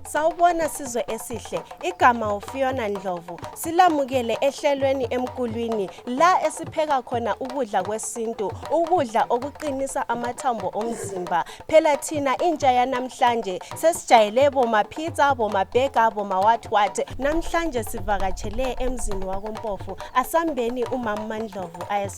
Sawubona sizwe esihle. Igama uFiona Ndlovu. Silamukele ehlelweni emkulwini la esipheka khona ukudla kwesintu, ukudla okuqinisa amathambo omzimba. Phela thina intsha yanamhlanje sesijayele boma pizza, boma burger, boma what what. Namhlanje sivakatshele emzini wakoMpofu. Asambeni umama Ndlovu ayes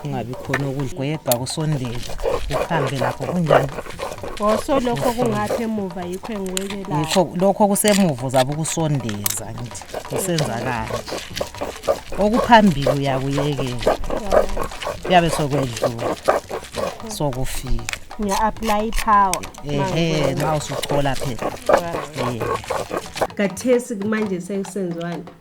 kungabi khona ukudlwebha kusondele uhambe lapho kunjani oso lokho kungaphi emuva yikho engiwekelayo yikho lokho kusemuva uzabe ukusondeza ngithi kusenzakala okuphambili uyakuyekela kuyabe sokwedlula sokufika ngiya-aplaya i-power ehe ma usuthola phela kathesi manje sekusenziwani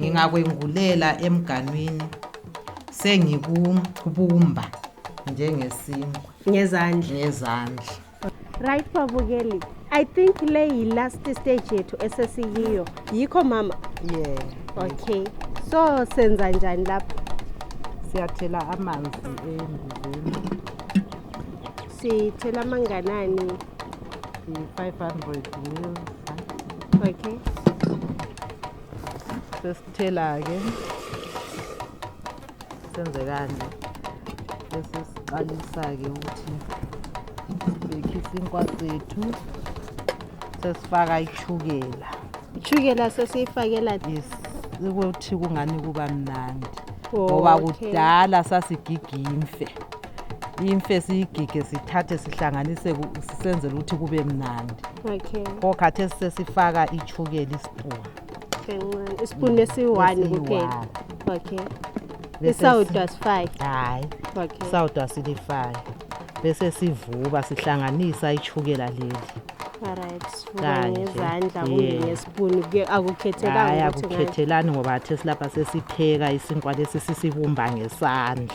ngingakwengulela emganwini sengikubumba njengesinkwa ngezandla ngezandla right babukeli i think le yi-last stage yethu esesiyiyo yikho mama yeah okay so senza njani lapho siyathela amanzi embizeni Sithela amanganani? 500 mil. Okay. Sesithela-ke senze kanje bese siqalisa-ke ukuthi sibhekhe isinkwa sethu sesifaka ichukela ichukela sesiyifakela yes ukuthi kungani kuba mnandi ngoba kudala sasigigimfe imfe siyigige sithathe sihlanganise ku- sisenzele ukuthi kube mnandi okay pho khathesi sesifaka ichukela isipuni kancane isipuni esiyi-one Esiyi-one. kuphela okay Bese isawudo asifaki hhayi okay sawudo asilifaki bese sivuba sihlanganisa ichukela leli alright sivuka Kanje. ngezandla kumbe Yeah. ngesipuni kuye- hhayi akukhethekanga ukuthi ngayo akukhethelani ngoba khathesi lapha sesipheka isinkwa lesi sisibumba ngesandla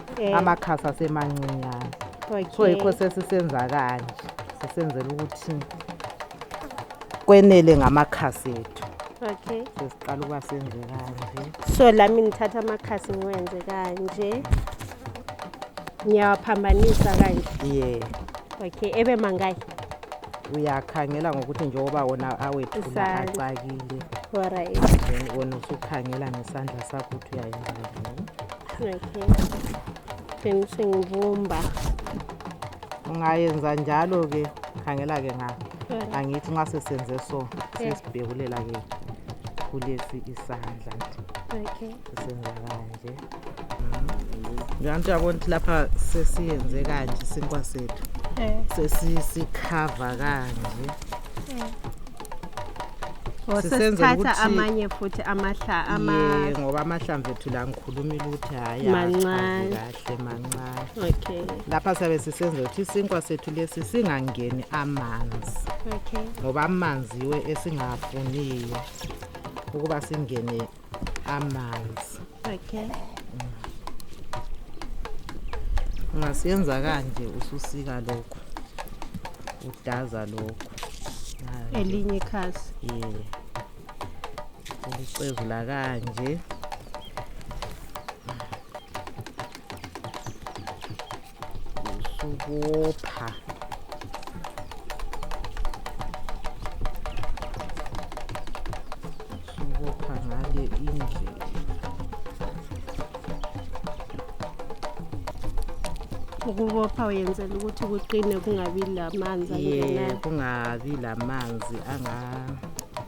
Eh. amakhasi asemancinyane so yikho Okay. sesisenza kanje sisenzela ukuthi kwenele ngamakhasi ethu Okay. sesiqala ukuba senze kanje So lami ngithatha amakhasi ngiwenze kanje. Ngiyawaphambanisa kanje. ye Okay, ebe mangayi. uyakhangela ngokuthi njengoba wona awethula Isandla. acakile Alright. then wona usukhangela ngesandla sakho ukuthi uyayenza njani Okay. Then sengibumba. Ungayenza njalo ke khangela ke nga. Angithi nxa sesenze so sesibhekulela ke kulesi isandla nje. Okay. Senza kanje. Ngiyantu yabona ukuthi lapha sesiyenze kanje sinkwa sethu. Eh. Sesisikhava kanje. Eh. Oh, Sisenzela sesithatha ukuthi- amanye futhi amahla Ye, ama ngoba amahlamvu ethu la ngikhuluma ukuthi hhayi Mancane. akachazi kahle mancane okay lapha sabe sisenzela ukuthi isinkwa sethu lesi singangeni amanzi okay ngoba amanzi yiwe esingafuniyo ukuba singene amanzi okay ungasiyenza kanje ususika lokho udaza lokho Kanje. elinye ikhasi Yeah. Ulicezula kanje. Usubopha. Usubopha ngale indlela. Ukubopha uyenzela ukuthi kuqine kungabi lamanzi Yeah, angenayo. kungabi lamanzi anga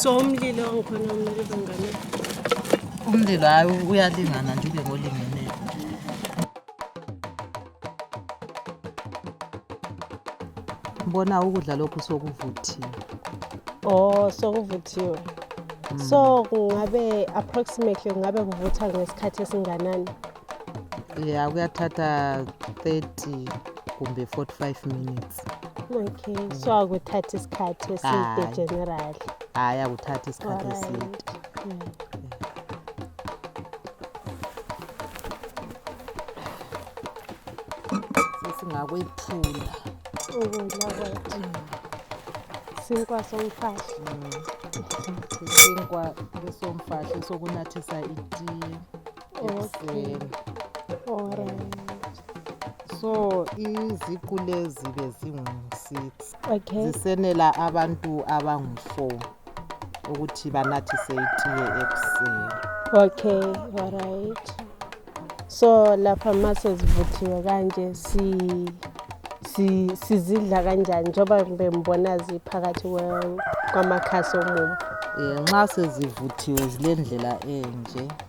so umlilo ngikhona umlilo bangane umlilo hayi uyalingana nje ube ngolingene bona ukudla lokhu sokuvuthiwe oh sokuvuthiwe so kungabe approximately kungabe kuvutha ngesikhathi esinganani ya kuyathatha 30 kumbe 45 minutes okay so akuthathi isikhathi eside Hhayi. generally hhayi akuthathi isikhathi Alright. eside Mm. sesingakwephula ukudla kwethu sinkwa somfahla isinkwa lesomfahla sokunathisa itiye ekuseni so iziqu lezi bezingu-six okay. zisenela abantu abangu-four ukuthi banathise itiye ekuseni okay alright so lapha ma sezivuthiwe kanje si sizidla kanjani njengoba bembona ziphakathi kwamakhasi omumo um nxa sezivuthiwe zile ndlela enje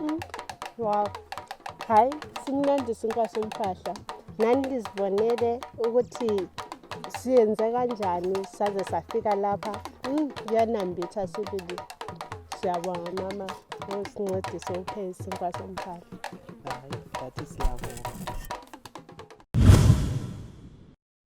Mm. Wow. Hayi simnandi isinkwa somfahla. Nani lizibonele ukuthi siyenze kanjani saze safika lapha. Mm, kuyanambitha sibili. Siyabonga mama ngosincedise upheke isinkwa somfahla. Hayi, that is love.